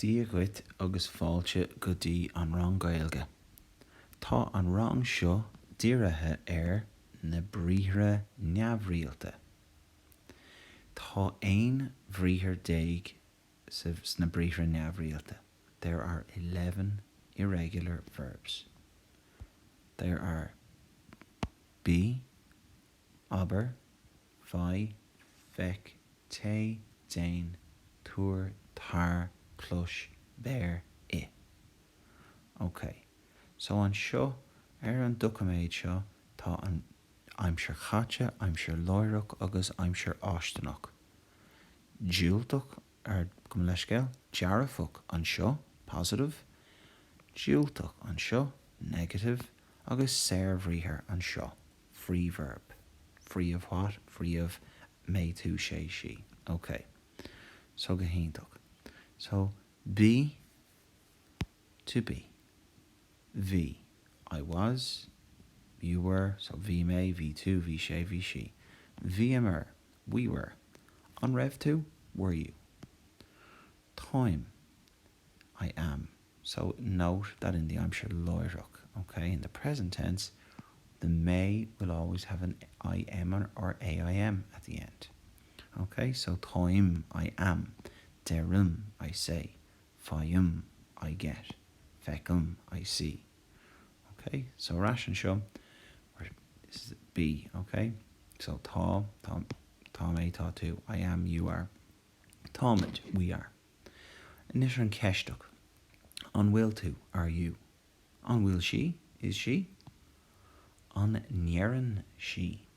Dia dhuit agus fáilte go dtí an rang Gaeilge. Tá an rang seo dírithe ar na briathra neamhrialta. Tá aon bhriathar déag sna briathra neamhrialta, there are eleven irregular verbs. There are bí, abair. Faigh, feic, téigh, déan, tabhair, tar, clois, beir, ith. Ok, so anseo ar an doiciméad seo tá an aimsir chaite, aimsir láithreach agus aimsir fháistineach. Diúltach ar, gabh mo leithscéal, dearfach anseo, positive, diúltach anseo, negative, agus saorbhriathar anseo, free verb, free of what? free of mé, tú, sé, sí. ok. so go hiontach. so bí, to be, bhí, I was, you were, so bhí mé, bhí tú, bhí sé, bhí sí, bhíomar, We were. An raibh tú? Were you? Táim. I am. So note that in the aimsir láithreach, ok, in the present tense, the may will always have an IM or or AIM at the end. Ok? So táim, I am. Deirim, I say. Faighim, I get. Feicim, I see. ok so ar ais anseo we're this is be ok so tá tá tá mé tá tú I am you are táimid we are anois an ceisteach an bhfuil tú are you an bhfuil sí is she an ndeireann sí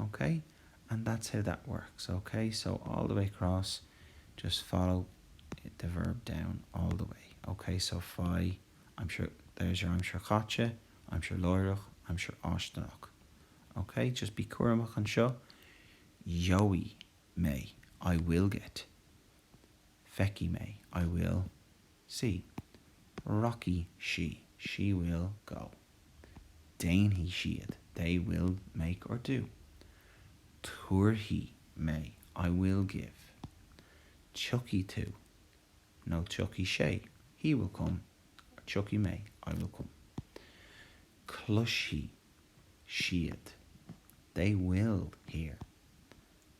ok and that's how that works ok so all the way across just follow the verb down all the way ok so faigh aimsir there's your aimsir chaite aimsir láithreach aimsir fháistineach ok just bí cúramach anseo gheobhaidh mé I will get feicfidh mé I will sí, rachaidh sí, she will go. déanfaidh siad, they will make or do. tabharfaidh mé, I will give. tiocfaidh tú, no, tiocfaidh sé, he will come. tiocfaidh mé, I will come. cloisfidh siad, they will hear.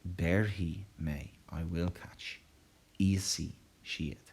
béarfaidh mé, I will catch. íosfaidh siad.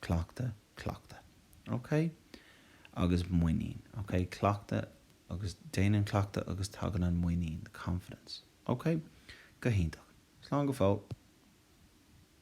Cleachtadh, cleachtadh. Ok. Agus muinín. Ok. Cleachtadh agus déanann cleachtadh agus tagann an muinín, the confidence. Ok. Go hiontach. Slán go fóill.